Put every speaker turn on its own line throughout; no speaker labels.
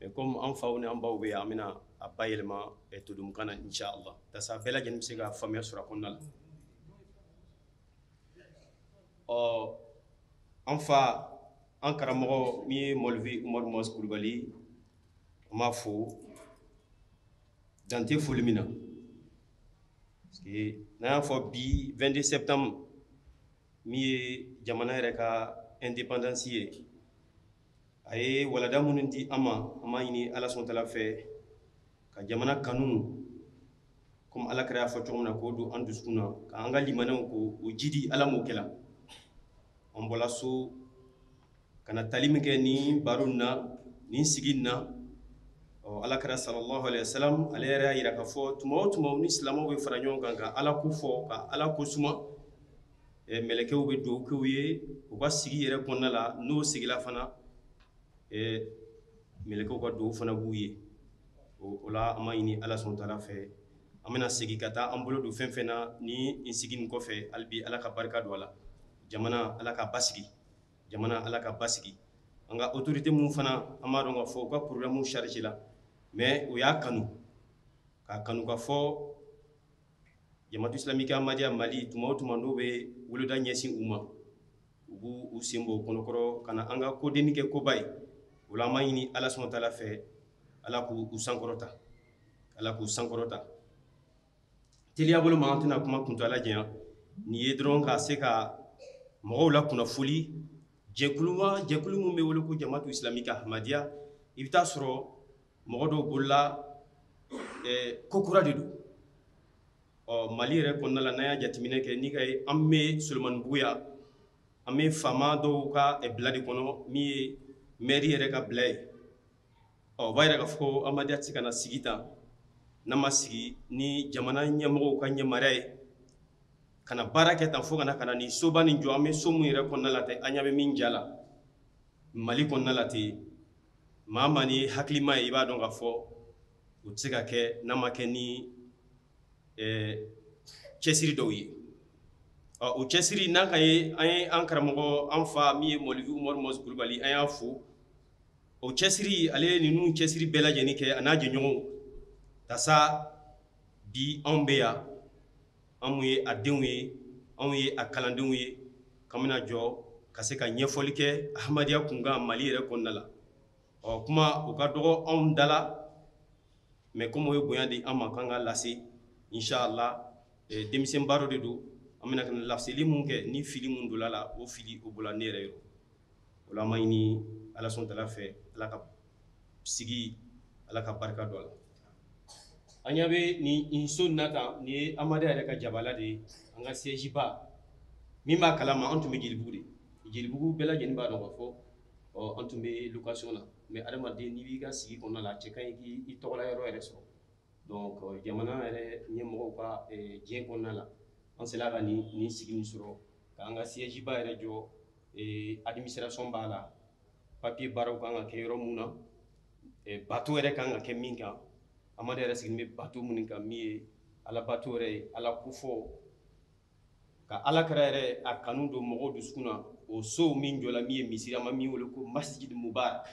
mais comme an faw ni an baw bɛ yan an bɛna a bayɛlɛma ɛ todunkan na inchallah yasa bɛɛ lajɛlen bɛ se ka faamuya sɔrɔ a kɔnɔna la ɔ an fa an karamɔgɔ min ye mɔlivi umaru mɔsi kulubali an b'a fo dantɛ foli min na parce que n'an y'a fɔ bi 22 septembre min ye jamana yɛrɛ ka indépendance ye a ye walanda minnu di an ma an b'a ɲini ala subhanahu wa ta'ala fɛ ka jamana kanu komi ala kira y'a fɔ cogo min na k'o don an dusukun na k'an ka limaniya k'o jidi ala m'o kɛla an bɔla so ka na tali min kɛ nin baro in na nin sigi in na ɔ ala kira salallahu alayhi wa salam ale yɛrɛ y'a yira k'a fɔ tuma o tuma ni silamɛw bɛ fara ɲɔgɔn kan ka ala ko fɔ ka ala ko suma mɛlɛkɛw bɛ duwa k'u ye u ka sigi yɛrɛ kɔnɔna la n'u segila fana mɛlɛkɛw ka duwa fana b'u ye o la an b'a ɲini ala subhanahu wa ta'ala fɛ an bɛna segin ka taa an bolo don fɛn fɛn na nin sigi in kɔfɛ hali bi ala ka barika don a la jamana ala k'a basigi jamana ala k'a basigi an ka autorité minnu fana an b'a dɔn k'a fɔ u ka programme chargé la mais u y'a kanu k'a kanu k'a fɔ jamatu islamique amadiya mali tuma o tuma n'u bɛ weleda ɲɛsin u ma u b'u senbɔ kɔnɔkɔrɔ ka na an ka ko dennin kɛ koba ye o la an b'a ɲini ala subhanahu wa ta'ala fɛ ala k'u sankɔrɔta ala k'u sankɔrɔta teliya bolo ma an tɛna kuma kuntaala janya nin ye dɔrɔn ka se ka mɔgɔw lakunnafoli jɛkulu jɛkulu min bɛ wele ko jamatu islamique amadiya i bɛ t'a sɔrɔ mɔgɔ dɔw bolo la ko kura de don ɔ mali yɛrɛ kɔnɔna la n'an y'a jateminɛ kɛ ni ka ye an bɛ solomanibugu yan an bɛ faama dɔw ka bila de kɔnɔ min ye mɛri yɛrɛ ka bila ye ɔ o b'a yira k'a fɔ amadiya tɛ ka na sigi tan n'a ma sigi ni jamana ɲɛmɔgɔw ka yamaruya ye ka na baara kɛ tan fo kana ka na ni soba nin jɔ an bɛ so min yɛrɛ kɔnɔna la ten an ɲa bɛ min ja la mali kɔnɔna la ten maa maa ni hakilima ye i b'a dɔn k'a fɔ o tɛ se ka kɛ n'a ma kɛ ni eh, cɛsiri dɔw ye ɔ o cɛsiri n'a ka ye an ye an karamɔgɔ an fa min ye mɔlivi umaru mɔsi kulubali an y'a fo o cɛsiri ale ye ninnu cɛsiri bɛɛ lajɛlen kɛ a n'a jɛɲɔgɔnw yasa bi anw bɛ yan anw ye a denw ye anw ye a kalandenw ye k'an bɛna jɔ ka se ka ɲɛfɔli kɛ amadiya kunkan mali yɛrɛ kɔnɔna la ɔ kuma o ka dɔgɔ anw da la mɛ kɔmi u ye bonya di an ma k'an k'a lase inchallah denmisɛnnin baro de don an bɛna ka na laseli min kɛ ni fili min donla a la o fili o bɔla ne yɛrɛ yɔrɔ o la an b'a ɲini ala subhana wa taala fɛ ala ka sigi ala ka barika don a la an ɲɛ bɛ nin so nin kan nin ye ahmadiyya yɛrɛ ka jabala de ye an ka siège ba min b'a kalama an tun bɛ jelibugu de jelibugu bɛɛ lajɛlen b'a dɔn k'a fɔ an tun bɛ location na mais adamaden n'i b'i ka sigi kɔnɔna la a cɛ ka ɲi k'i tɔgɔla yɔrɔ yɛrɛ sɔrɔ Donc jamana yɛrɛ ɲɛmɔgɔw ka jɛn kɔnɔna la an sela ka nin sigi nin sɔrɔ k'an ka siège ba yɛrɛ jɔ administration b'a la papier baaraw ka kan ka kɛ yɔrɔ min na bato yɛrɛ ka kan ka kɛ min kan ahmadiyya yɛrɛ sigilen bɛ bato minnu ka min ye ala bato yɛrɛ ye ala kofɔ ka ala kira yɛrɛ a kanu don mɔgɔw dusukun na o so min jɔla min ye misiri an bɛ min weele ko masjid muba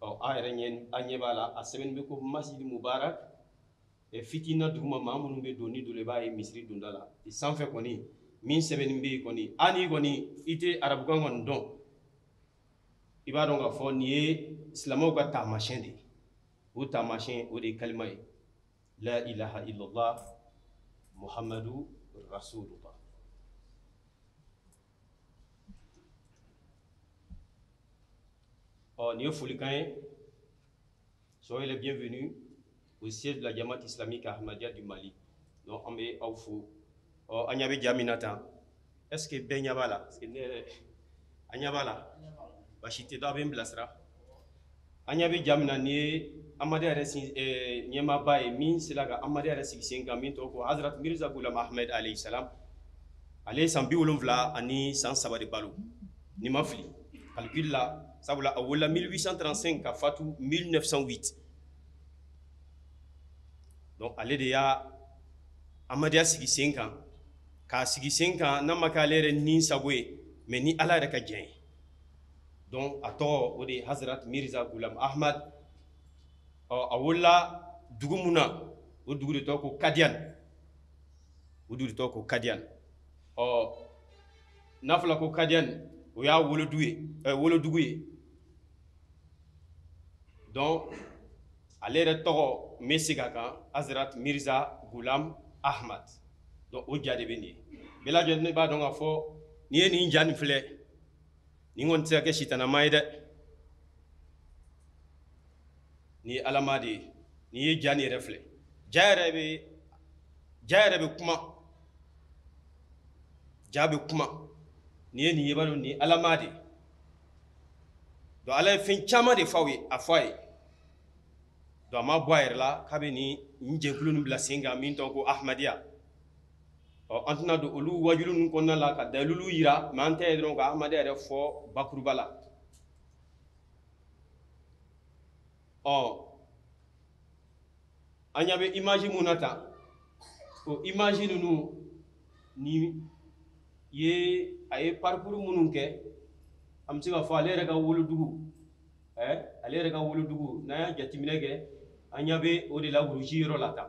ɔ a yɛrɛ ɲɛ a ɲɛ b'a la a sɛbɛnnen bɛ ko masjid mubarak fitina duguma maa minnu bɛ don n'i donna i b'a ye misiri donda la i sanfɛ kɔni min sɛbɛnnen bɛ yen kɔni hali n'i kɔni i tɛ arabukan kɔni dɔn i b'a dɔn k'a fɔ nin ye silamɛw ka taamasiyɛn de ye o taamasiyɛn o de ye kalima ye la ilaha illallah muhammadu rasulullah Bon, nin ye folikan ye soyez les bienvenus au siège de la jamaat islamique ahmadiyya du mali donc an bɛ aw fo ɔ an ɲɛ bɛ ja min na tan est ce que bɛɛ ɲɛ b'a la est ce que an ɲɛ b'a la basi tɛ donc a bɛ n bilasira an ɲɛ bɛ ja min na nin ye ahmadiyya yɛrɛ eh, ɲɛmaaba ye min sela ka ahmadiyya yɛrɛ sigi sen kan min tɔgɔ ko hazrat mirza gulam ahmed alayhi salam ale ye san bi wolonfila ani san saba de balo ni n ma fili calcul la sabula a wolola 1835 ka fatu 1908 donc ale de ye ahmadiyya sigi sen kan k'a sigi sen kan n'a ma kɛ ale yɛrɛ ni sago ye mais ni ala yɛrɛ ka jɛn ye donc a tɔgɔ o de ye hazrat mirza gulam ahmad ɔ a wolola dugu min na o dugu de tɔgɔ ko kadiyan o dugu de tɔgɔ ko kadiyan ɔ n'a fɔla ko kadiyan o y'a wolodugu ye ɛ wolodugu ye donc ale yɛrɛ tɔgɔ n bɛ segin a kan hazrat mirza gulam ahmad donc o ja de bɛ nin ye bɛɛ lajɛlen b'a dɔn k'a fɔ n'i ye nin ja nin filɛ nin kɔni tɛ se ka kɛ sitanɛ maa ye dɛ nin ye ala maa de ye n'i ye ja nin yɛrɛ filɛ ja yɛrɛ bɛ ja yɛrɛ bɛ kuma ja bɛ kuma n'i ye nin ye i b'a dɔn nin ye ala maa de ye donc ala ye fɛn caman de f'aw ye a fɔ a ye donc a ma bɔ a yɛrɛ la k'a bɛ nin nin jɛkulu nin bila sen kan min tɔgɔ ko ahmadiyya ɔ an tɛna don olu waajuli ninnu kɔnɔna la ka dalilu yira mɛ an tɛ ye dɔrɔn ka ahmadiya yɛrɛ fɔ bakuruba la ɔ an ɲa bɛ imaji mun na tan o imaji ninnu nin ye a ye parikuru minnu kɛ an bɛ se k'a fɔ ale yɛrɛ ka wolodugu ɛ ale yɛrɛ ka wolodugu n'an y'a jateminɛ kɛ an ɲa bɛ o de la wuruji yɔrɔ la tan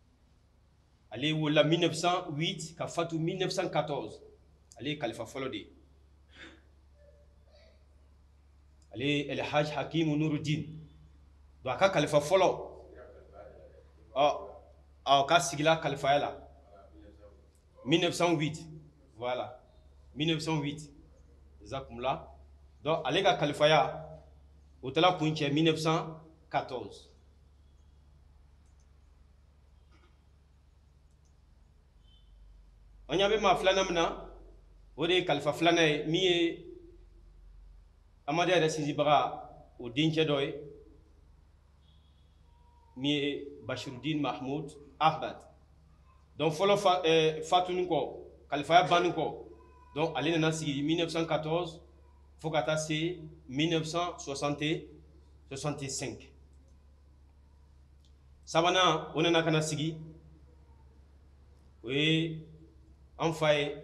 ale wolola 1908 ka fatu 1914 ale ye kalifa fɔlɔ de ye ale elhaj hakimu nurudin don a ka kalifa fɔlɔ ɔ ɔ ka sigila kalifaya la 1908 voilà 1908 exactement la donc ale ka kalifaya o taara kuncɛ 1914 an ɲa bɛ maa filanan min na o de ye kalifa filanan ye min ye amadiya yɛrɛ sinsinbaga o dencɛ dɔ ye min ye bashirudin mahmud ahmad donc fɔlɔ eh, fatuni kɔ kalifaya banni kɔ donc ale nana sigi 1914 fo ka taa se 1965 sabanan o nana ka na sigi o ye an fa ye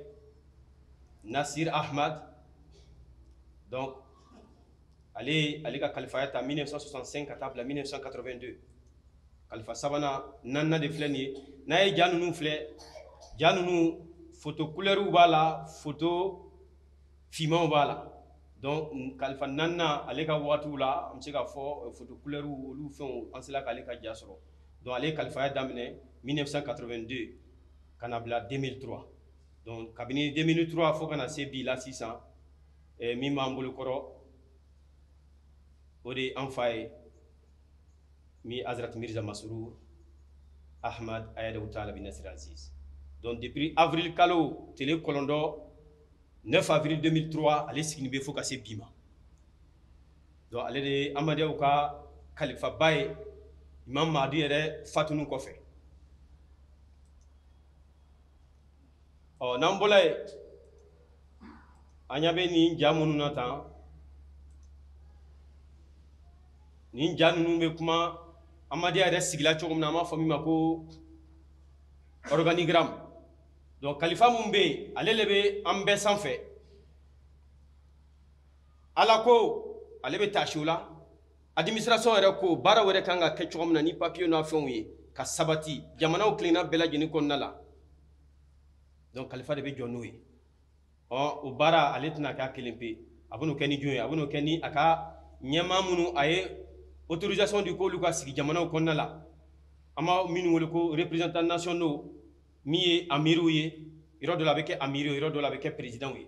nasir ahmad donc ale ale ka kalifaya ta 1965 ka taa bila 1982 kalifa sabanan naaninan de filɛ nin ye n'a ye ja ninnu filɛ ja ninnu foto kulɛriw b'a la foto fimanw b'a la donc kalifa naaninan ale ka wagatiw la an bɛ se k'a fɔ euh, foto kulɛriw olu fɛnw an sera k'ale ka ja sɔrɔ donc ale ye kalifaya daminɛ 1982 ka na bila 2003 donc kabini 2003 fo ka na se bi la sisan ɛ min b'an bolo kɔrɔ o de ye an fa ye min azrat mirza masrur ahmad ayadahu taala binasiri aziz donc depuis avril kalo tele kɔnɔntɔn 9 avril 2003 ale sigini bɛ fo ka se bi ma donc ale de ye amadiyaw ka kalifaba ye imam mahdi yɛrɛ fatuni kɔfɛ ɔ n'an bɔla yen an ɲa bɛ nin ja minnu na tan nin ja ninnu bɛ kuma amadiya yɛrɛ sigila cogo min na an b'a fɔ min ma ko organigramme donc kalifa mun bɛ yen ale de bɛ an bɛɛ sanfɛ ala kɔ ale bɛ taa sigi o la Administration yɛrɛ ko baara wɛrɛ kan ka kɛ cogo min na ni papier n'a fɛnw ye ka sabati jamanaw kelenna bɛɛ lajɛlen kɔnɔna la donc kalifa de bɛ jɔ n'o ye ɔ o baara ale tɛna k'a kelen pe a bɛn'o kɛ ni jɔn ye a bɛn'o kɛ ni a ka ɲɛmaa minnu a ye autorisation di k'olu ka sigi jamanaw kɔnɔna la an b'a minnu wele ko représentants nationaux min ye amiriw ye yɔrɔ dɔ la a bɛ kɛ amiri ye yɔrɔ dɔ la a bɛ kɛ présidents ye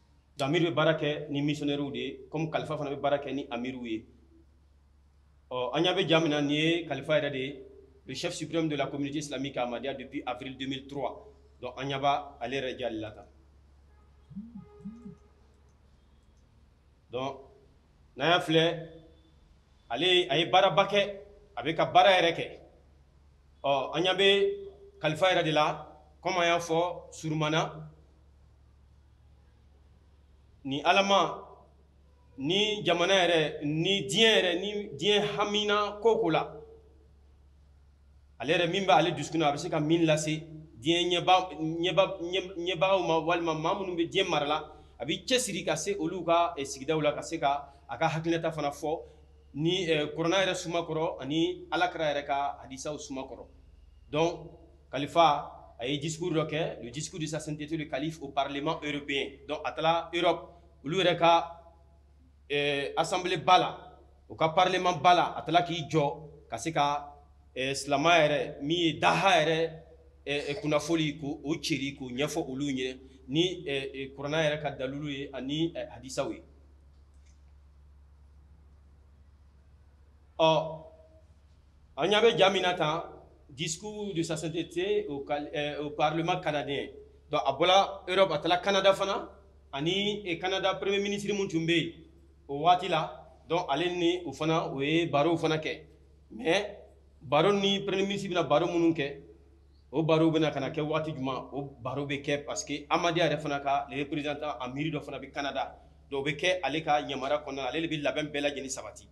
amir bɛ baara kɛ ni missionnaires de ye comme kalifa fana bɛ baara kɛ ni amiriw ye ɔ an ɲa bɛ ja min na nin ye kalifa yɛrɛ de ye le chef suprême de la communauté islamique ahmadiyya depuis avril 2003 donc an ɲa bɛ ale yɛrɛ ja de la tan donc n'an y'a filɛ ale a ye baaraba kɛ a bɛ ka baara yɛrɛ kɛ ɔ an ɲa bɛ kalifa yɛrɛ de la comme an y'a fɔ surumana ni alama ni jamana yɛrɛ ni diɲɛ yɛrɛ ni diɲɛ haminanko ko la ale yɛrɛ min bɛ ale dusukun na a bɛ se ka min lase diɲɛ ɲɛbagaw ma walima maa minnu bɛ diɲɛ mara la a b'i cɛsiri ka se olu ka eh, sigidaw la ka se ka a ka hakilinata fana fɔ ni eh, kurana yɛrɛ suma kɔrɔ ani ala kira yɛrɛ ka hadisaw suma kɔrɔ donc Kalifa a ye discours dɔ kɛ le discours de sa sainteté le calife au parlement européen donc a taara Europe olu yɛrɛ ka ɛɛ assemblée ba la u ka parlement ba la a taara k'i jɔ ka se ka ɛɛ silamɛya yɛrɛ min ye daha yɛrɛ ɛɛ kunnafoli ko o ceri k'o ɲɛfɔ olu ɲɛ ni ɛɛ kurana yɛrɛ ka dalilu ye ani hadisaw ye ɔ An ɲa bɛ ja min na tan discours de sa sainteté au cal ɛɛ au parlement canadien donc a bɔla Europe a taara Canada fana ani e Canada premier ministre min tun bɛ yen o waati la donc ale ni o fana o ye barow fana kɛ mais baro ni premier ministre bɛna baro minnu kɛ o barow bɛna ka na kɛ waati jumɛn o baro bɛ kɛ parce que Ahmadiyya yɛrɛ fana ka le représentant amiri dɔ fana bɛ Canada donc o bɛ kɛ ale ka yamaruya kɔnɔna la ale de bɛ labɛn bɛɛ lajɛlen sabati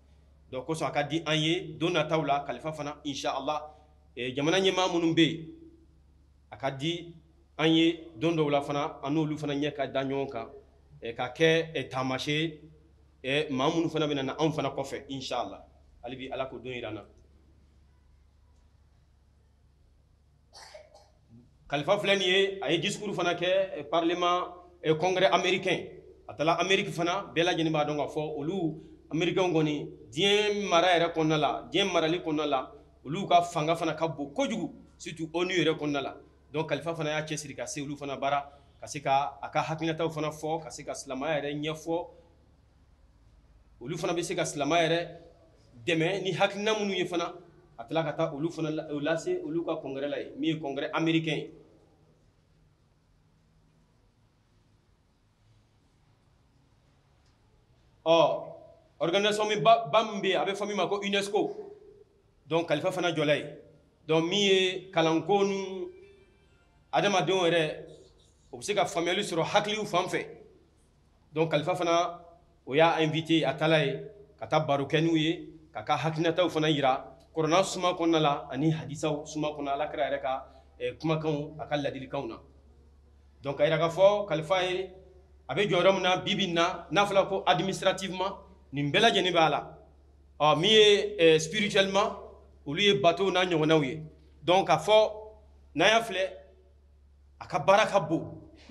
donc kosɔn a ka di an ye don nataw la kalifa fana insha allah eh, jamana ɲɛmaa minnu bɛ yen a ka di an ye don dɔw la fana an n'olu fana ɲɛ ka da ɲɔgɔn kan eh, ka kɛ eh, taamasiyɛn eh, maa minnu fana bɛ na anw fana kɔfɛ insha allah hali bi ala k'o don yira an na kalifa filɛ nin ye a ye discours fana kɛ eh, parlement eh, congrès américain a taara amérique fana bɛɛ lajɛlen b'a dɔn k'a fɔ olu américains kɔni diɲɛ mara yɛrɛ kɔnɔna la diɲɛ marali kɔnɔna la olu ka fanga fana ka bon kojugu surtout onu yɛrɛ kɔnɔna la donc kalifa fana y'a cɛsiri ka se olu fana bara ka se ka a ka hakilinataw fana fɔ ka se ka silamaya yɛrɛ ɲɛfɔ olu fana bɛ se ka silama yɛrɛ dɛmɛ ni hakilina minnu ye fana a tila ka taa olu fana lase olu ka congrès la ye min ye congrès américain ye ɔ organisation min ba min bɛ yen a bɛ fɔ min ma ko unesco donc kalifa fana jɔla ye donc min ye kalanko ni adamadenw yɛrɛ o bɛ se ka faamuyali sɔrɔ hakiliw fan fɛ donc kalifa fana o y'a invité a taala ye ka taa baro kɛ n'u ye k'a ka hakilinataw fana yira kuranɛ suma kɔnɔna la ani hadisaw suma kɔnɔ ala kira yɛrɛ ka eh, kumakanw a ka ladilikanw na donc a yira k'a fɔ kalifa ye a bɛ jɔyɔrɔ min na bi bi in na n'a fɔra ko administrativement nin bɛɛ lajɛlen b'a la ɔ min ye eh, spirituellement olu ye batow n'a ɲɔgɔnnaw ye donc k'a fɔ n'an y'a filɛ a ka baara ka bon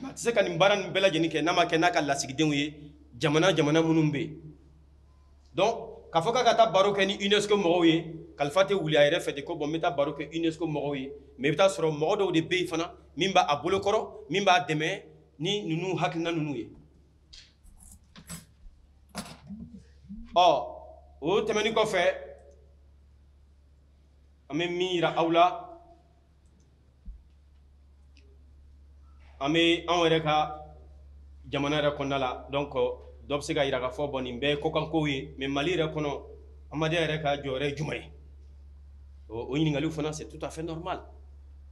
a tɛ se ka nin baara nin bɛɛ lajɛlen kɛ n'a ma kɛ n'a ka lasigidenw ye jamana jamana minnu bɛ yen donc k'a fɔ k'a ka taa baro kɛ ni unesco mɔgɔw ye kalifa tɛ wuli a yɛrɛ fɛ ten ko bon n bɛ taa baro kɛ unesco mɔgɔw ye mais i bɛ t'a sɔrɔ mɔgɔ dɔw de bɛ yen fana min b'a a bolo kɔrɔ min b'a dɛmɛ ni ninnu hakilina ninnu ye ɔ o tɛmɛnen kɔfɛ an bɛ min yira aw la an bɛ anw yɛrɛ ka jamana yɛrɛ kɔnɔna la donc dɔ bɛ se ka yira k'a fɔ bon nin bɛɛ ye kɔkankow ye mais mali yɛrɛ kɔnɔ Ahmadiyya yɛrɛ ka jɔyɔrɔ ye jumɛn ye o ɲininkali fana c'est tout à fait normal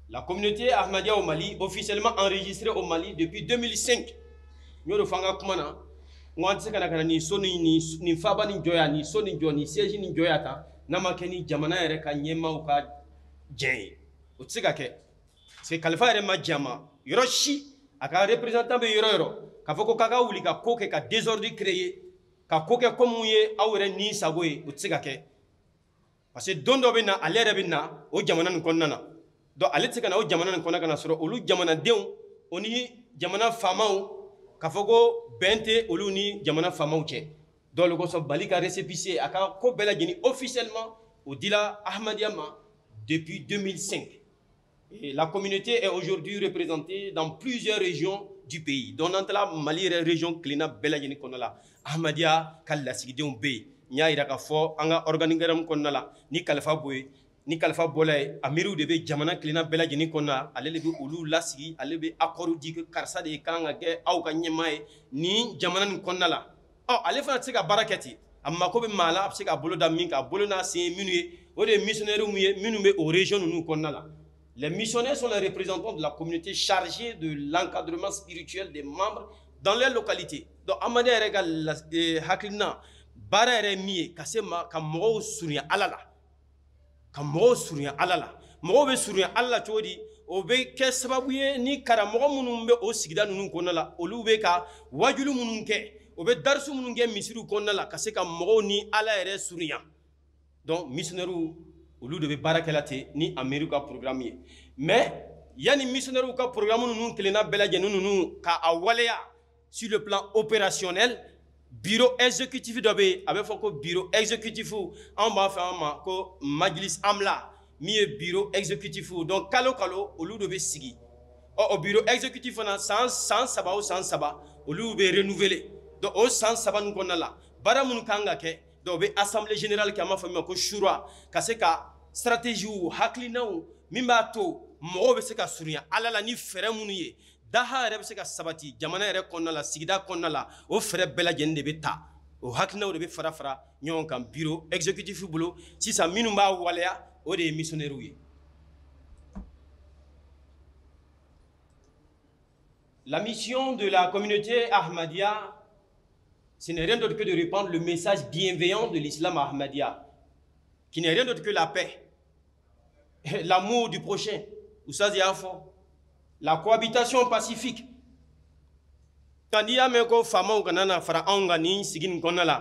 la communauté Ahmadiyya au mali officiellement enregistrée au mali depuis 2005 n y'o de fɔ an ka kuma na n ko an tɛ se ka na nin so nin faba nin jɔya nin so nin jɔ nin siège nin jɔya ta n'a ma kɛ ni jamana yɛrɛ ka ɲɛmaaw ka jɛn ye o tɛ se ka kɛ parce que kalifa yɛrɛ ma jɛn a ma yɔrɔ si a ka représentant bɛ yɔrɔ yɔrɔ k'a fɔ ko k'a ka wuli ka ko kɛ ka désordre créer ka ko kɛ comme ye aw yɛrɛ ni sago ye o tɛ se ka kɛ parce que don dɔ bɛ na ale yɛrɛ bɛ na o jamana nin kɔnɔna na donc ale tɛ se ka na o jamana nin kɔnɔ ka n'a sɔrɔ olu jamanadenw o ni jamana faamaw k'a fɔ ko bɛn tɛ olu ni jamana faamaw cɛ donc o le kosɔn Mali ka récépissé a ka ko bɛɛ lajɛlen officiellement o dila Ahmadiyya ma depuis 2005 Et la communauté est aujourd'hui représentée dans plusieurs régions du pays donc n'an taala Mali yɛrɛ région kelenna bɛɛ lajɛlen kɔnɔna la Ahmadiyya ka lasigidenw bɛ yen n y'a yira k'a fɔ an ka organigramme kɔnɔna la ni kalifa bɔ yen ni kalifa bɔla yen amiriw de bɛ jamana kelenna bɛɛ lajɛlen kɔnɔna la ale de bɛ olu lasigi ale bɛ accord di karisa de kan ka kɛ aw ka ɲɛmaa ye ni jamana nin kɔnɔna la ɔ ale fana tɛ se ka baara kɛ ten a mako bɛ maa la a bɛ se ka bolo da min kan a bolo n'a sen ye minnu ye o de ye missionnaires ye minnu bɛ o région ninnu kɔnɔna la Les missionnaires sont les représentants de la communauté chargés de l'encadrement spirituel des membres dans les localités donc Ahmadiyya yɛrɛ ka hakilina baara yɛrɛ min ye ka se ma ka mɔgɔw surunya ala la ka mɔgɔw surunya ala la mɔgɔw bɛ surunya ala la cogo di o bɛ kɛ sababu ye ni karamɔgɔ minnu bɛ o sigida ninnu kɔnɔna la olu bɛ ka wajulu minnu kɛ o bɛ darisu minnu kɛ misiriw kɔnɔna la ka se ka mɔgɔw ni ala yɛrɛ surunya donc missionnaires olu de bɛ baara kɛla ten ni amiri ka programme ye mais yanni missionnaires ka programme ninnu kelenna bɛɛ lajɛlen ninnu k'a waleya Sur le plan opérationnel, bureau exécutif dɔ bɛ yen a bɛ fɔ ko bureau exécutif anw b'a fɔ a ma ko majlis amla min ye bureau exécutif donc kalo kalo olu de bɛ sigi ɔ o bureau exécutif fana san saba o san saba olu bɛ renouveler donc o san saba nin kɔnɔna la baara minnu kan ka kɛ donc o bɛ assemblée générale kɛ an b'a fɔ min ma ko shura ka se ka stratégie hakilinaw min b'a to mɔgɔw bɛ se ka surunya ala la ni fɛɛrɛ minnu ye daha yɛrɛ bɛ se ka sabati jamana yɛrɛ kɔnɔna la sigida kɔnɔna la o fɛɛrɛ bɛɛ lajɛlen de bɛ ta o hakilinaw de bɛ fara fara ɲɔgɔn kan bureau exécutif bolo sisan minnu b'a waleya o de ye missionnaires ye La mission de la communauté Ahmadiyya, ce n'est rien d'autre que de répandre le message bienveillant de l'islam Ahmadiyya, qui n'est rien d'autre que la paix. L'amour du prochain. Ou ça, c'est La cohabitation pacifique. Quand i y'a mɛn ko faamaw ka na na fara anw kan nin sigi nin kɔnɔna la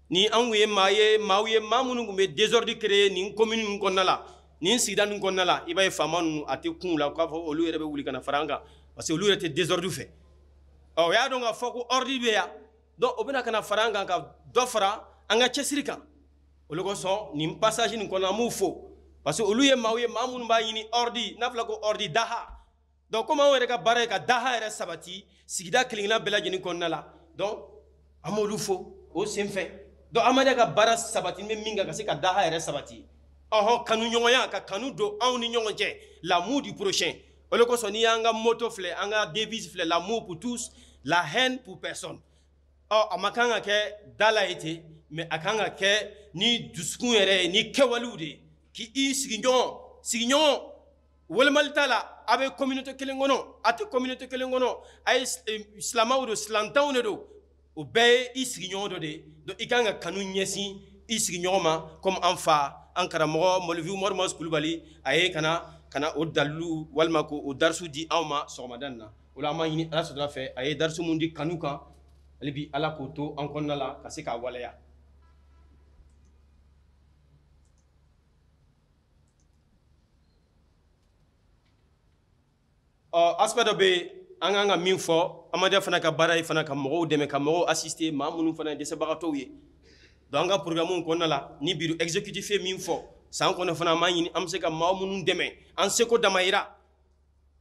ni anw ye maa ye maaw ye maa minnu tun bɛ désordre créer nin commune ninnu kɔnɔna la nin sigida ninnu kɔnɔna la i b'a ye faama ninnu a tɛ kun u la k'a fɔ olu yɛrɛ bɛ wuli ka na fara an kan parce que olu yɛrɛ tɛ désordre fɛ ɔ o y'a dɔn k'a fɔ ko ordre bɛ yan donc o bɛ na ka na fara an kan ka dɔ fara an ka cɛsiri kan o de kosɔn nin passage nin kɔnɔ an b'u fo parce que olu ye maaw ye maa minnu b'a ɲini ordre n'a fɔla ko ordre daha donc komi anw yɛrɛ ka baara ye ka daha yɛrɛ sabati sigida kelenkelenna bɛɛ lajɛlen kɔnɔna la donc an b'olu fo o sen fɛ donc Ahmadiyya ka baara sabati bɛ min kan ka se ka daha yɛrɛ sabati ɔhɔn kanuɲɔgɔnya ka kanu don anw ni ɲɔgɔn cɛ l'amour du prochain o de kosɔn n'i y'an ka motto filɛ an ka devise filɛ l'amour pour tous la haine pour personne ɔ a man kan ka kɛ da la ye ten mais a kan ka kɛ ni dusukun yɛrɛ ye ni kɛwalew de ye k'i sigiɲɔgɔn sigiɲɔgɔn wolomali t'a la a bɛ communauté kelen kɔnɔ a tɛ communauté kelen kɔnɔ a ye silamɛw don silantanw de don o bɛɛ ye i sigiɲɔgɔn dɔ de ye donc i kan ka kanu ɲɛsin i sigiɲɔgɔn ma comme an fa an karamɔgɔ mɔlivi umaru muaz kulubali a ye kana kana o dalilu walima ko o darisu di anw ma sɔgɔmada nin na o la an b'a ɲini ala sɔrɔla fɛ a ye darisu mun di kanu kan ale bi ala k'o to an kɔnɔna la ka se k'a waleya ɔ aspect dɔ bɛ yen an kan ka min fɔ amadiya fana ka baara ye fana ka mɔgɔw dɛmɛ ka mɔgɔw assister maa minnu fana ye dɛsɛbagatɔw ye donc an ka programme kɔnɔna la ni bureau exécutif ye min fɔ san kɔnɔ fana an b'a ɲini an bɛ se ka maa minnu dɛmɛ an seko damayira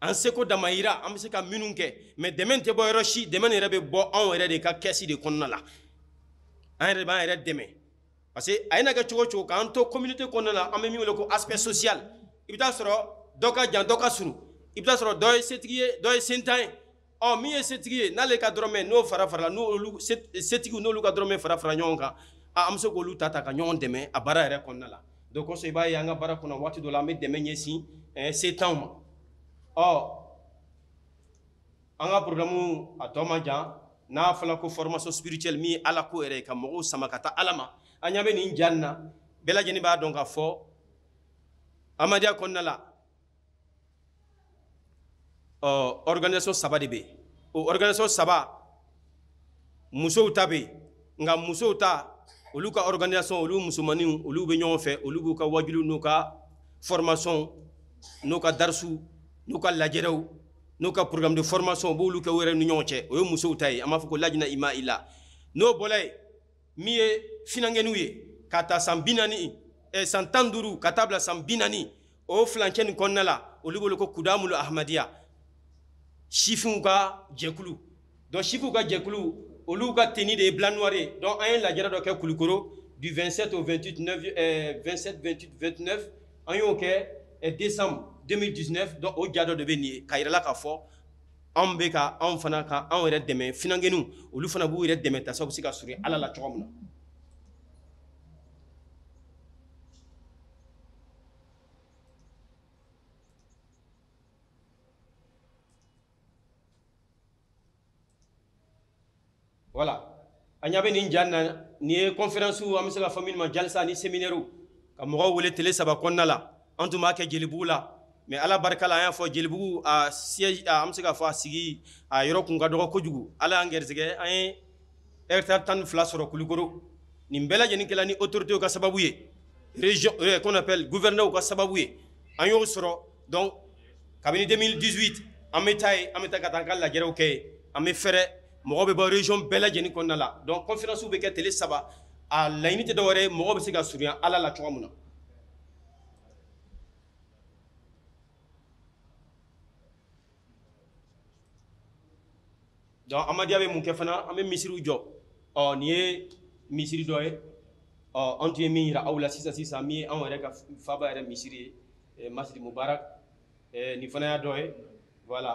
an seko damayira an bɛ se ka minnu kɛ mais dɛmɛ tɛ bɔ yɔrɔ si dɛmɛ yɛrɛ bɛ bɔ anw yɛrɛ de ka kɛsi de kɔnɔna la an yɛrɛ de b'an yɛrɛ dɛmɛ parce que a ye na kɛ cogo o cogo k'an to communauté kɔnɔna la an bɛ min wele ko aspect social i bɛ taa sɔrɔ dɔ ka jan dɔ ka surun i bɛ taa sɔrɔ dɔ ye setigi ye dɔ ye sentan ye ɔ min ye setigi ye n'ale ka dɔrɔmɛ n'o fara farala n'olu setigiw n'olu ka dɔrɔmɛ fara fara ɲɔgɔn kan a an bɛ se k'olu ta ta ka ɲɔgɔn dɛmɛ a baara yɛrɛ kɔnɔna la donc o kosɔn i b'a ye an ka baara kɔnɔ waati dɔ la an bɛ dɛmɛ ɲɛsin setanw ma ɔ an ka programme a tɔ man jan n'a fɔla ko formation spirituelle min ye ala ko yɛrɛ ye ka mɔgɔw sama ka taa ala ma an ɲa bɛ nin ja na bɛɛ lajɛlen b'a dɔn k'a fɔ amadiya kɔnɔna la ɔ organisation saba de bɛ yen o organisation saba musow ta bɛ yen nka musow ta olu ka organisation olu musomaninw olu bɛ ɲɔgɔn fɛ olu b'u ka wajuliw n'u ka formation n'u ka darisu n'u ka lajɛrɛw n'u ka programme de formation u b'olu kɛ u yɛrɛ ni ɲɔgɔn cɛ o ye musow ta ye an b'a fɔ ko lajina imaila n'o bɔra yen min ye finankɛniw ye ka ta san bi naani eh, san tan duuru ka taa bila san bi naani o filancɛ nin kɔnɔna la olu bɛ wele ko kudamulu ahmadiya sifinw ka jɛkulu donc sifinw ka jɛkulu olu ka tenue de ye blanc noir ye donc an ye lajɛrɛ dɔ kɛ kulikoro du 27 au 28 9 eh, 27 28 29 an y'o kɛ eh, décembre 2019 donc o ja dɔ de bɛ nin ye k'a yira an la k'a fɔ anw bɛ ka anw fana ka anw yɛrɛ dɛmɛ finankɛninw olu fana b'u yɛrɛ dɛmɛ yaasa u bɛ se ka surun ala la cogo min na voilà an ɲa bɛ nin ja na nin ye kɔnferansiw an bɛ se ka fɔ minnu ma jalisa ni seminɛriw ka mɔgɔw wele tele saba kɔnɔna la an tun b'a kɛ jelibugu la mais ala barika la an y'a fɔ jelibugu a siège an bɛ se ka fɔ a sigi a yɔrɔ kun ka dɔgɔ kojugu ala y'an gɛrisigɛ an ye hectare tan ni fila sɔrɔ kulikoro nin bɛɛ lajɛlen kɛla ni autorités ka sababu ye région euh, qu'on appelle gouverneur ka sababu ye an y'o sɔrɔ donc kabini 2018 an bɛ taa yen an bɛ taa ka taa an ka lajɛrew kɛ yen an bɛ fɛrɛ mɔgɔ bɛ bɔ région bɛɛ lajɛlen kɔnɔna la donc conférence bɛ kɛ tele saba a laɲini tɛ dɔwɛrɛ ye mɔgɔw bɛ se ka surunya Ala la cogo min na donc amadiya bɛ mun kɛ fana an bɛ misiriw jɔ ɔ nin ye misiri dɔ ye ɔ an tun ye min yira aw la sisan sisan min ye anw yɛrɛ ka faba yɛrɛ misiri ye eh, masjid mubarak eh, nin fana y'a dɔ ye voilà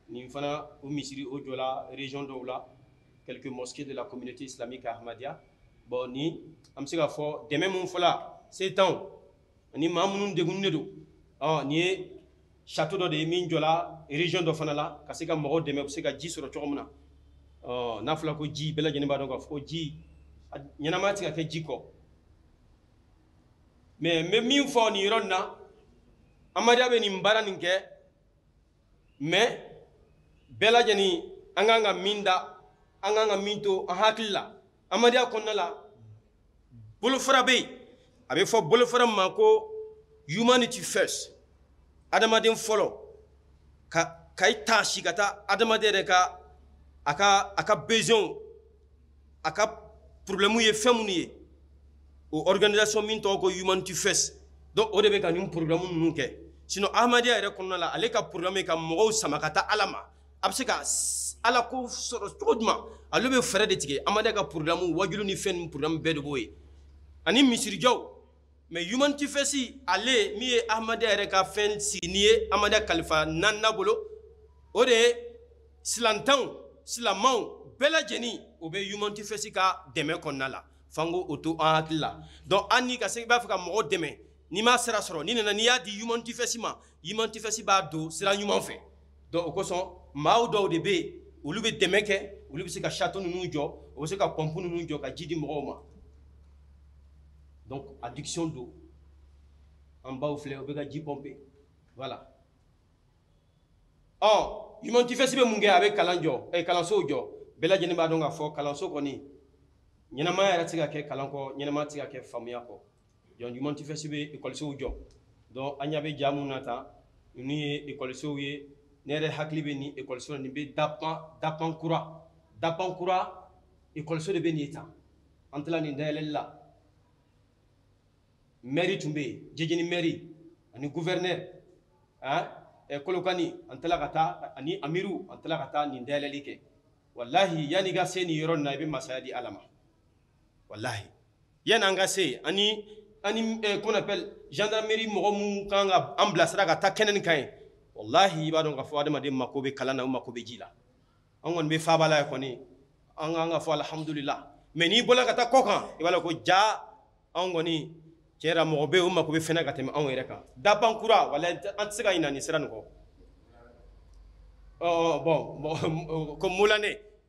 nin fana o misiri o jɔla région dɔw la quelques mosquées de la communauté islamique ahmadiyya bon ni an bɛ se k'a fɔ dɛmɛ min fɔla setanw ani maa minnu degunnen don ɔ nin ye château dɔ de ye min jɔla région dɔ fana la ka se ka mɔgɔw dɛmɛ u bɛ se ka ji sɔrɔ cogo min na ɔ n'a fɔra ko ji bɛɛ lajɛlen b'a dɔn k'a fɔ ko ji ɲɛnamaya tɛ se ka kɛ ji kɔ mais n bɛ min fɔ nin yɔrɔ nin na amadiya bɛ nin baara nin kɛ mais bɛɛ lajɛlen an kan ka min da an kan ka min to an hakili la amadiya kɔnɔna la bolofara bɛ yen a bɛ fɔ bolofara ma ko humanity first adamaden fɔlɔ ka ka i taasi ka taa adamaden yɛrɛ ka a ka a ka besoinw a ka problème ye fɛn minnu ye o organisation min tɔgɔ ko humanity first donc o de bɛ ka nin programme ninnu kɛ sinon amadiya yɛrɛ kɔnɔna la ale ka programme ye ka mɔgɔw sama ka taa ala ma a bɛ se ka ala ko sɔrɔ cogo jumɛn ale bɛ fɛɛrɛ de tigɛ amadiya ka programme waajuli ni fɛn ni programme bɛɛ de b'o ye ani misirijɔw mais humanity first ale min ye amadiya yɛrɛ ka fɛn sigilen ye amadiya kalifa naaninan bolo o de ye silantanw silamɛw bɛɛ lajɛlen o bɛ humanity first ka dɛmɛ kɔnɔna la f'an k'o to an hakili la donc an ni ka se i b'a fɛ ka mɔgɔ dɛmɛ n'i m'a sira sɔrɔ n'i nana n'i y'a di humanity first ma humanity first b'a don sira ɲuman fɛ donc o kosɔn maaw dɔw de bɛ yen olu bɛ dɛmɛ kɛ olu bɛ se ka château ninnu jɔ o bɛ se ka pompe ninnu jɔ ka ji di mɔgɔw ma donc adduction don an baw filɛ u bɛ ka ji pɔnpe voilà ɔ humanity first bɛ mun kɛ a bɛ kalan jɔ ɛ eh, kalansow jɔ bɛɛ lajɛlen b'a dɔn k'a fɔ kalanso kɔni ɲɛnamaya yɛrɛ tɛ se ka kɛ kalan kɔ ɲɛnamaya tɛ se ka kɛ faamuya kɔ donc humanity first bɛ ekɔlisow jɔ donc an ɲa bɛ ja min na tan ninnu ye ekɔlisow ye ne yɛrɛ hakili bɛ nin ekɔliso la nin bɛ dapan dapan kura dapan kura ekɔliso de bɛ nin tan an tila nin dayɛlɛli la mɛri tun bɛ yen jijeni mɛri ani guvɛrinɛri eh, kolokani an tila ka taa ani amiru an tila ka taa nin dayɛlɛli kɛ walahi yanni i ka se nin yɔrɔ nin na i bɛ masaya di ala ma walahi yanni an ka se yen ani ani eh, qu'on appelle gendarmerie mɔgɔ minnu kan ka an bilasira ka taa kɛnɛ nin kan yen walahi i b'a dɔn k'a fɔ adamaden mako bɛ kalan na u mako bɛ ji la an kɔni bɛ faaba la ye kɔni an kan ka fɔ alihamudulila mais n'i bɔla ka taa kɔ kan i b'a dɔn ko ja anw kɔni tiɲɛ yɛrɛ mɔgɔ bɛ yen o mako bɛ fɛn na ka tɛmɛ anw yɛrɛ kan daban kura walahi an tɛ se ka ɲinɛ nin sira nin kɔ ɔ bon ko mulane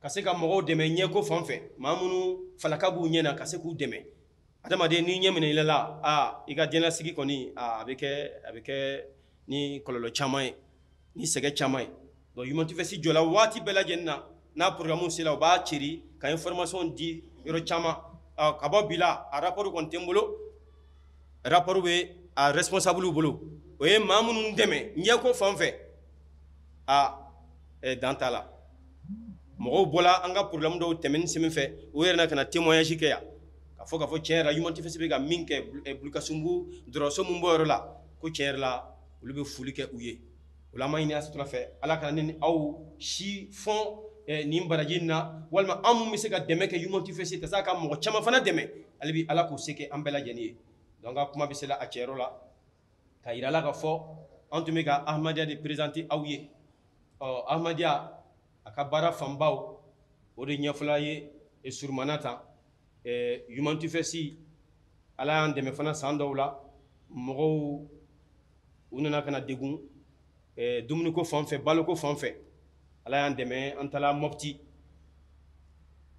ka se ka mɔgɔw dɛmɛ ɲɛko fan fɛ maa minnu falaka b'u ɲɛ na ka se k'u dɛmɛ adamaden n'i ɲɛ minɛ i la aa i ka diɲɛnasigi kɔni a bɛ kɛ a bɛ kɛ ni kɔlɔlɔ caman ye ni sɛgɛ caman ye donc Humanity First jɔla waati bɛɛ lajɛlen na n'a programme sela u b'a cɛri ka information di yɔrɔ caman ka bɔ bi la a rapport kɔni tɛ n bolo rapport bɛ a responsable bolo o ye maa minnu dɛmɛ ɲɛko fan fɛ aa ɛɛ dan t'a la mɔgɔw bɔra an ka problème dɔw tɛmɛni sen fɛ u yɛrɛ na ka na témoignage kɛ yan ka fɔ ka fɔ tiɲɛ yɛrɛ la Humanity First bɛ ka min kɛ eh, Bulkasunbugu dɔgɔtɔrɔso min b'o yɔrɔ la ko tiɲɛ yɛrɛ la olu bɛ foli kɛ u ye o la an b'a ɲini Ala subahana wa taala fɛ Ala kana an ni aw si fɔn eh, nin baraji in na walima an minnu bɛ se ka dɛmɛ kɛ Humanity First jaasa a ka mɔgɔ caman fana dɛmɛ hali bi Ala k'o se kɛ an bɛɛ lajɛlen ye donc an ka kuma bɛ se la a tiɲɛ yɛrɛ la ka yira la ka fɔ an tun bɛ ka ahmadiyya de présenter aw ye ɔ ahmadiyya a ka baara fanbaw o de ɲɛfɔla ye e surumana ta Humanity First ala y'an dɛmɛ fana san dɔw la mɔgɔw u nana ka na degun dumuniko fanfɛ baloko fanfɛ ala y'an dɛmɛ an taala mɔti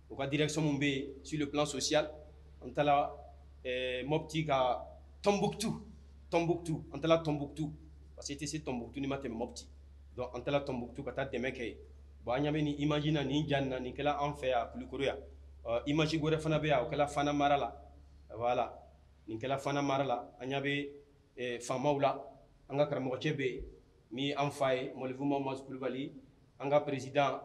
u ka direction min bɛ yen sur le plan social an taala mɔti ka tɔnbukutu tɔnbukutu an taala tɔnbukutu parce que i tɛ se tɔnbukutu n'i ma tɛmɛ mɔti donc an taala tɔnbukutu ka taa dɛmɛ kɛ yen bon an ɲa bɛ nin image na nin ja na nin kɛla an fɛ yan kulukoro yan image wɛrɛ fana bɛ yan o kɛla fana mara la voilà nin kɛla fana mara la an ɲa bɛ faamaw la an ka karamɔgɔcɛ bɛ yen ni an fa ye mɔlifu mamadu kulubali an ka président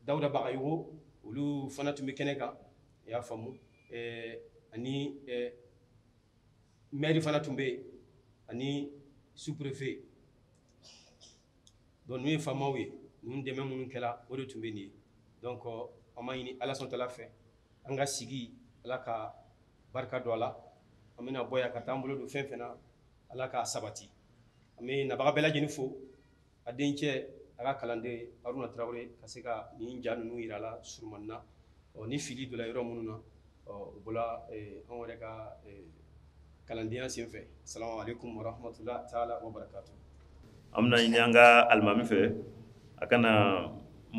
dawuda bagayoko olu fana tun bɛ kɛnɛ kan i y'a faamumu ani maire fana tun bɛ yen ani sous-préfet donc ninnu ye faamaw ye ninnu dɛmɛ minnu kɛra o de tun bɛ nin ye donc an b'a ɲini ala subahana wa taala fɛ an ka sigi ala ka barika don a la an bɛna bɔ yan ka taa an bolo don fɛn fɛn na ala k'a sabati an bɛ nabaga bɛɛ lajɛlen fo a dencɛ a ka kalanden haruna tarawele ka se ka nin ja ninnu yira a la surumani na ɔ ni fili donna yɔrɔ minnu na ɔ o bɔra anw yɛrɛ ka kalandenya senfɛ salamu aleykum warahamatula taala wa barakatu an bɛna ɲini
an ka alimami fɛ a ka na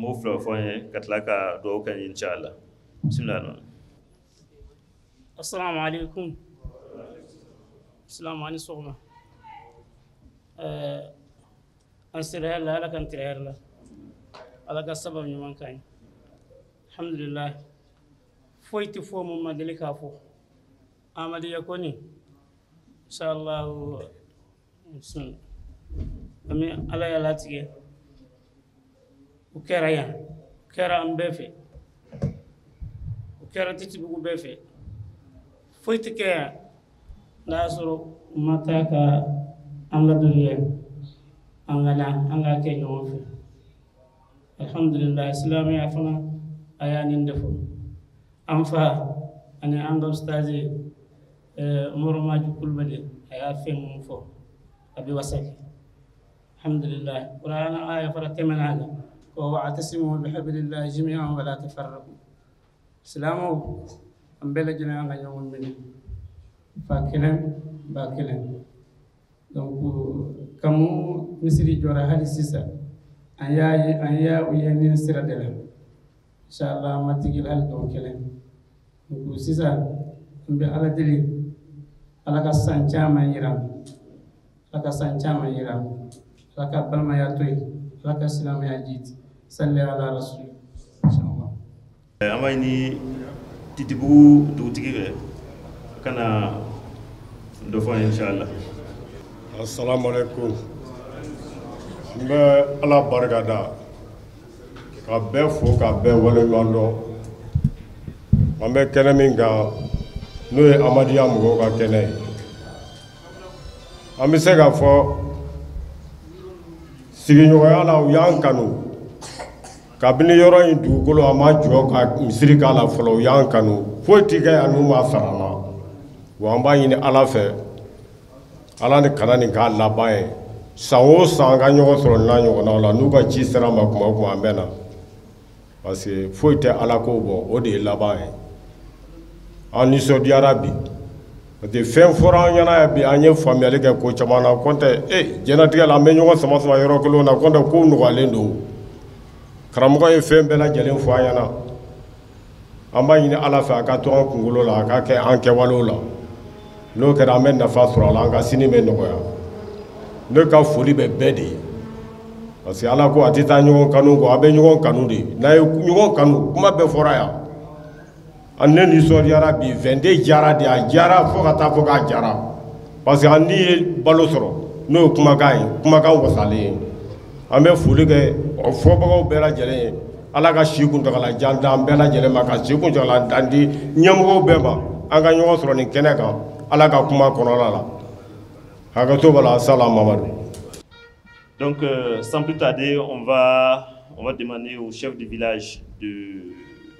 mot fila fɔ an ye ka tila ka dugawu kɛ an ye inshallah bisimila
assalamu aleykum salamu ani sɔgɔma eh, an sira hɛrɛ la ala k'an tile hɛrɛ la ala ka sababu ɲuman k'an ye alhamdulilahi foyi tɛ fɔ mun ma deli k'a fɔ amadiya kɔni inshallah sun ami ala y'a latigɛ o kɛra yan o kɛra an bɛɛ fɛ o kɛra titibugu bɛɛ fɛ foyi tɛ kɛ yan n'a y'a sɔrɔ u ma taa ka an ladɔnniya an ka na an k'a kɛ ɲɔgɔn fɛ alhamdulillah silamɛya fana a y'a nin de fɔ an fa ani an ka ustazi eh, umaru maju kulubali a y'a fɛn mun fɔ a bɛ wasa kɛ alhamdulillah kurana aya fara tɛmɛna a la ko wa'tasimu bihablillahi jami'an wa la tafarraqu silamɛw an bɛɛ lajɛlen an ka ɲɔgɔn minɛ fa kelen ba kelen donc kabi misiri jɔra hali sisan an y'a ye an y'u ye nin sira de la inshallah an ma tigɛ u la hali don kelen donc sisan an bɛ ala deli ala ka san caman yira ala ka san caman yira an na ala ka balimaya to yen ala ka silamɛya jiidi salli ala rasul An b'a ɲini
Titibugu dugutigi fɛ, a ka na dɔ fɔ an ye incha Allah. Asalamu
aleyikomu, n bɛ Ala barikada, ka bɛɛ fo, ka bɛɛ waleɲumandɔn. An bɛ kɛnɛ min kan, n'o ye Ahmadiya mɔgɔw ka kɛnɛ ye. An bɛ se k'a fɔ, sigiɲɔgɔnya la, u y'an kanu. kabini yɔrɔ in dugukolo a ma jɔ ka misiri k'a la fɔlɔ u y'an kanu foyi tɛ kɛ yan n'u ma sara an na wa an b'a ɲini ala fɛ ala ni kana nin k'a laban ye san o san an ka ɲɔgɔn sɔrɔ nin n'a ɲɔgɔnnaw la n'u ka ci sera an ma kuma o kuma an bɛ na parce que foyi tɛ ala ko bɔ o de ye laban ye an nisɔndiyara bi parce que fɛn fɔra an ɲɛna yan bi an ye faamuyali kɛ ko caman na nɔntɛ e eh, diɲɛlatigɛ la an bɛ ɲɔgɔn sama sama yɔrɔ kelenw na nɔntɛ kow nɔgɔyalen don karamɔgɔ ye fɛn bɛɛ lajɛlen fɔ an ɲɛna an b'a ɲini ala fɛ a ka to an kunkolo la a ka kɛ an kɛwalew la n'o kɛra an bɛ nafa sɔrɔ a la an ka sini bɛ nɔgɔya ne ka foli bɛ bɛɛ de ye parce que ala ko a tɛ taa ɲɔgɔn kanu kɔ a bɛ ɲɔgɔn kanu de n'a ye ɲɔgɔn kanu kuma bɛɛ fɔra yan a ne nisɔndiyara bi vingt-deux jara de a jara fo ka taa fɔ k'a jara parce que an ni ye balo sɔrɔ n'o ye kumakan ye kumakan wasalen ye an bɛ foli kɛ fɔbagaw bɛɛ lajɛlen ye ala ka si kuntagala jan d'an bɛɛ lajɛlen ma ka si kuntagala jan di ɲɛmɔgɔw bɛɛ ma an ka ɲɔgɔn sɔrɔ nin kɛnɛ kan ala ka kuma kɔnɔla la hakɛto b'a la salam mamadu
donc euh, sans plus tarder on va on va demander au chef du village de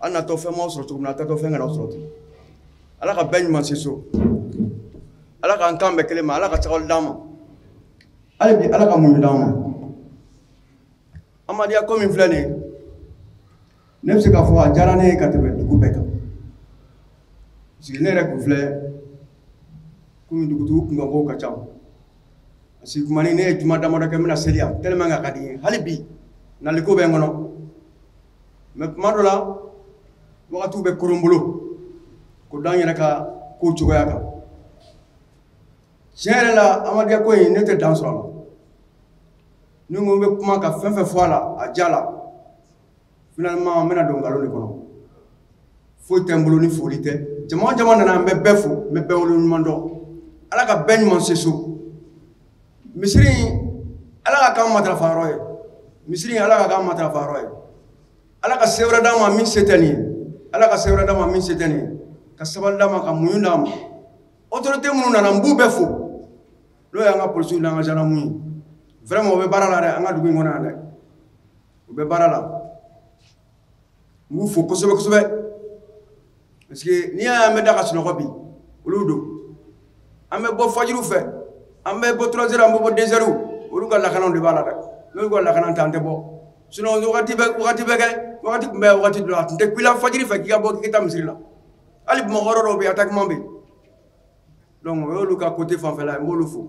an natɔ fɛn ma sɔrɔ cogo min na a taatɔ fɛn kana sɔrɔ ten ala ka bɛɛ ɲuman se so ala k'an kan bɛn kelen ma ala ka sabali d'an ma hali bi ala ka muɲu d'an ma amadiya ko min filɛ nin ye ne bɛ se k'a fɔ a diyara ne ye ka tɛmɛ dugu bɛɛ kan parce que ne yɛrɛ kun filɛ komi dugutigi kunkanko ka ca si kuma ne ye juma damadɔ kɛ n bɛna seli yan tellement a ka di n ye hali bi naliko bɛ n kɔnɔ mais tuma dɔ la wagatiw bɛ koron n bolo k'o da n yɛrɛ ka kow cogoya kan tiɲɛ yɛrɛ la amadiya ko in ne tɛ dan sɔrɔ a la ni n ko n bɛ kuma ka fɛn fɛn fɔ a la a ja la finalement n bɛna don nkalon de kɔnɔ foyi tɛ n bolo ni foli tɛ jama jama nana n bɛ bɛɛ fo n bɛ bɛɛ wale ɲuman dɔn ala ka bɛɛ ɲuman se so misiri in ala ka k'an matarafa yɔrɔ ye misiri in ala ka k'an matarafa yɔrɔ ye ala ka se wɛrɛ d'a ma min se tɛ nin ye ala ka se wɛrɛ d'a ma min se tɛ nin ye ka sabali d'a ma ka muɲu d'a ma autorité minnu nana n b'u bɛɛ fo n'o y'an ka polisiw n'an ka zandaramuw ye vraiment o bɛ baara la dɛ an ka dugu in kɔnɔ yan dɛ u bɛ baara la n b'u fo kosɛbɛ kosɛbɛ parce que n'i y'a y'an bɛ da ka sunɔgɔ bi olu don an bɛ bɔ fajiriw fɛ an bɛ bɔ trois heures an bɛ bɔ deux heures olu ka lakanaw de b'a la dɛ n'olu ka lakana t'an tɛ bɔ sinon wagati bɛ wagati bɛ kɛ wagati tun bɛ wagati dɔ la a tun tɛ kun i la fajiri fɛ k'i ka bɔ k'i ka taa misiri la hali bamakɔ yɔrɔ dɔw bɛ yen attaquement bɛ yen donc o y'olu ka côté fanfɛla ye n b'olu fo